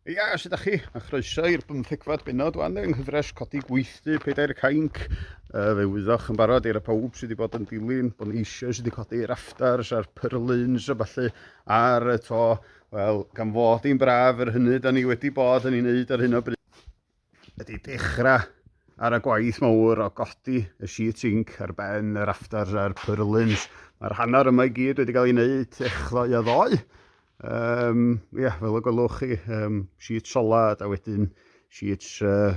Ia, os ydych chi, a chroeso i'r bymthegfad benod wan yng nghyfres codi gweithdy pedair cainc. Uh, fe wyddoch yn barod i'r pawb sydd wedi bod yn dilyn, bod ni eisiau sydd wedi codi rafters a'r pyrlyns a falle ar y to. Wel, gan fod i'n braf yr hynny, da ni wedi bod yn ei wneud ar hyn o bryd. ydy dechrau ar y gwaith mawr o godi y sheet zinc ar ben yr afters a'r purlins. Mae'r hanner yma i gyd wedi cael ei wneud echddoe a ddoe. Um, yeah, fel y gwelwch chi, um, sheet solad a wedyn sheet uh,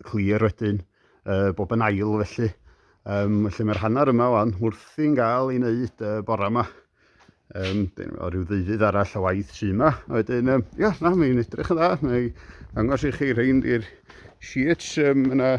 clir wedyn, uh, bob yn ail felly. Um, felly mae'r hanner yma o'n wrthi'n gael ei wneud uh, bore yma. Um, dyn nhw rhyw ddeuddydd arall o waith sy yma. Wedyn, um, ia, na, mae'n edrych yn dda. Mae'n angos i chi rhain i'r sheets. Um, yna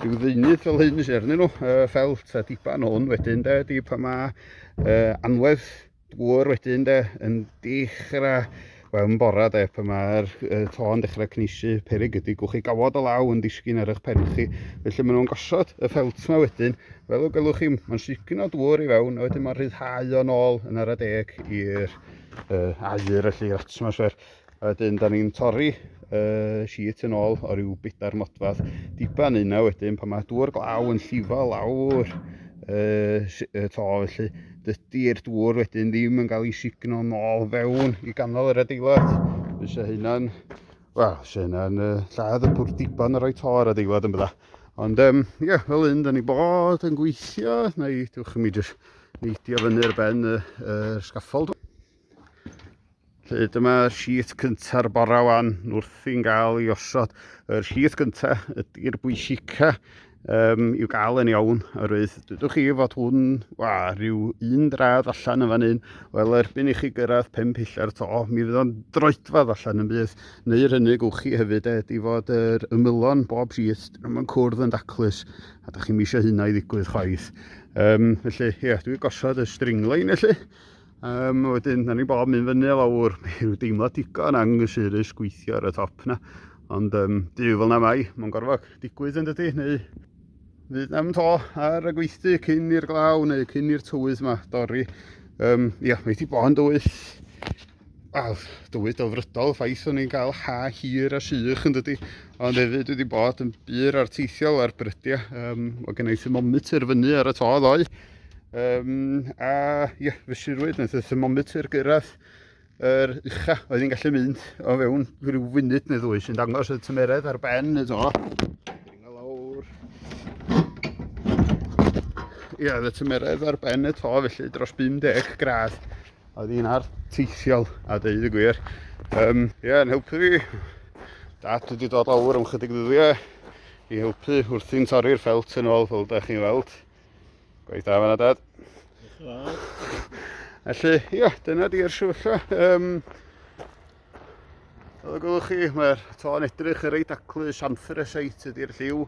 rhyw ddeunydd fel hyn sy'n arnyn nhw, uh, ffelt a diban hwn wedyn, de, di pa mae uh, anwedd dŵr wedyn, de, yn dechrau Wel, yn bora de, pan mae'r uh, to yn dechrau cneisiu perig ydy, gwch chi gawod o law yn disgyn ar eich pen chi. Felly maen nhw'n gosod y ffelt yma wedyn, fel y gelwch chi, mae'n sicn o dŵr i fewn, a wedyn mae'n rhyddhau o'n ôl yn ar y deg i'r uh, air, felly i'r atmosffer. A wedyn, da ni'n torri uh, sheet yn ôl o ryw bedair modfad diban yna wedyn, pan mae dŵr glaw yn llifo lawr uh, to, felly Dydy'r dŵr wedyn ddim yn cael ei signo nôl fewn i ganol yr adeilad. Fysa hynna'n, wel, fysa hynna'n uh, lladd y pwr diban ar roi to ar adeilad yn bydda. Ond, um, ie, yeah, fel un, da ni bod yn gweithio, neu diwch i mi jyst neidio fyny'r ben y, y sgaffold. Felly dyma sheet cynta'r bora wan wrth i'n gael ei osod. Yr sheet cynta ydy'r bwysica um, i'w gael yn iawn. Oherwydd dydwch chi fod hwn, wa, rhyw un dradd allan yn fan hyn. Wel, erbyn i chi gyrraedd pen pillau'r to, mi fydd o'n droedfad allan yn bydd. Neu'r hynny gwch chi hefyd ed i fod yr ymylon bob sheet yn cwrdd yn daclus. A da chi'n misio hynna i ddigwydd chwaith. Um, felly, ie, yeah, dwi'n gosod y stringline felly. Um, wedyn, da ni bob mynd fyny o lawr, mae rhyw deimlo digon anghysurus gweithio ar y top na. Ond um, dyw fel na mai, mae'n gorfod digwydd yn dydy, neu fydd na'm to ar y gweithdy cyn i'r glaw neu cyn i'r tywydd yma dorri. Um, ia, mae wedi bod yn dywydd, wel, dywydd dofrydol, ffaith o'n i'n cael ha hir a sych yn dydy, ond hefyd wedi bod yn bur arteithiol ar brydiau. Um, o gennau thermometr fyny ar y to ddoe, Um, a ie, yeah, fe sirwyd, wnaeth y thermometr gyrraedd yr er ucha oedd hi'n gallu mynd o fewn rhyw funud neu ddwy sy'n dangos y tymeredd ar ben y do. Ie, yeah, y tymeredd ar ben y to felly dros 50 gradd oedd hi'n ar teithiol a dweud y gwir. Um, ie, yeah, yn helpu fi. Dad wedi dod lawr am chydig ddyddiau i helpu wrthi'n torri'r ffelt yn ôl fel da chi'n weld. Gwaith da fanna, Dad. Felly, ia, dyna di'r sefyllfa. Um, Fel y gwelwch chi, mae'r to'n edrych yn reit aclu, siamfer y seit ydy'r lliw,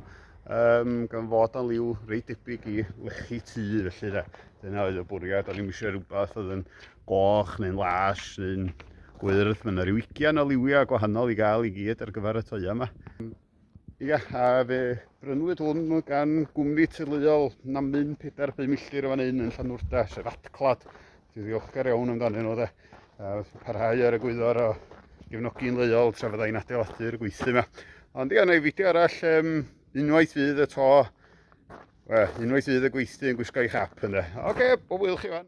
um, gan fod o'n liw reit debyg i lechi tu, felly da. Dyna oedd y bwriad, o'n i'n eisiau rhywbeth oedd yn goch neu'n las neu'n gwyrdd. Mae yna rhyw ugian o liwiau gwahanol i gael i gyd ar gyfer y toia yma. Ia, a fe brynwyd hwn gan gwmni teuluol na mynd 4-5 milltir o fan hyn yn Llanwrda, sef Atclad. Dwi'n ddiolchgar iawn amdanyn nhw de. A parhau ar y gwyddor o gefnogi'n leol tra fydda i'n adeiladu'r gweithlu yma. Ond ia, na i fideo arall, um, unwaith fydd y to, well, unwaith fydd y gweithlu yn gwisgo i chap yna. Oce, okay, o wyl chi fan.